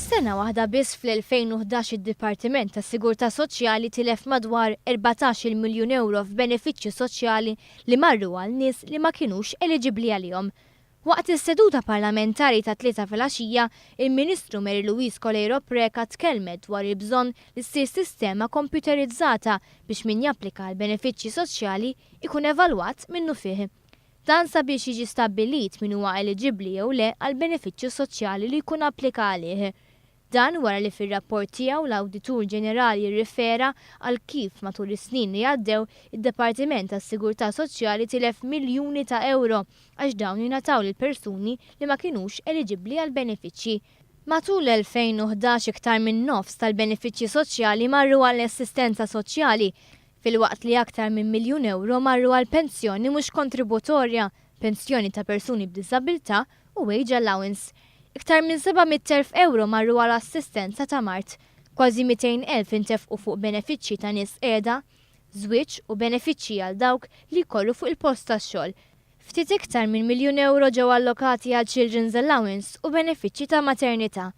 F'sena waħda biss fl-2011 id-Dipartiment tas-Sigurtà Soċjali tilef madwar 14-il miljun ewro f'benefiċċji soċjali li marru għal nies li ma kinux eliġibbli għalihom. Waqt is-seduta parlamentari tat-Tlieta filgħaxija, il-Ministru Mary Louise Coleiro Preca tkellmet dwar il-bżonn li ssir sistema kompjuterizzata biex min japplika għall-benefiċċji soċjali jkun evalwat minnufih. Dan sabiex jiġi stabbilit min huwa eliġibbli jew le għall-benefiċċju soċjali li jkun applika għalih. Dan wara li fir-rapport tiegħu l-Awditur Ġenerali jirrifera għal kif matul is-snin li għaddew id-Departiment għas-Sigurtà Soċjali tilef miljuni ta' ewro għax dawn ingħataw lil persuni li ma kinux eliġibbli għall-benefiċċji. Matul l-2011 iktar min-nofs tal-benefiċċji soċjali marru għall-assistenza soċjali, filwaqt li aktar minn miljun ewro marru għal pensjoni mhux kontributorja, pensjoni ta' persuni b'diżabilità u wage allowance. Iktar minn 700,000 ewro marru għal assistenza ta' mard. Kważi 200,000 intefqu fuq benefiċċji ta' nies qiegħda, żwieġ u benefiċċji għal dawk li jkollu fuq il-post tax-xogħol. Ftit iktar minn miljun ewro ġew allokati għal children's allowance u benefiċċji ta' maternità.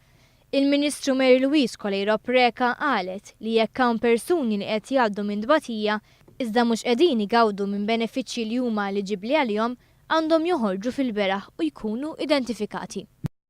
Il-Ministru Mary Louise Coleiro Preca qalet li jekk hawn persuni li qed jgħaddu minn tbatija iżda mhux qegħdin igawdu minn benefiċċji li huma eliġibbli għalihom għandhom joħorġu fil-beraħ u jkunu identifikati.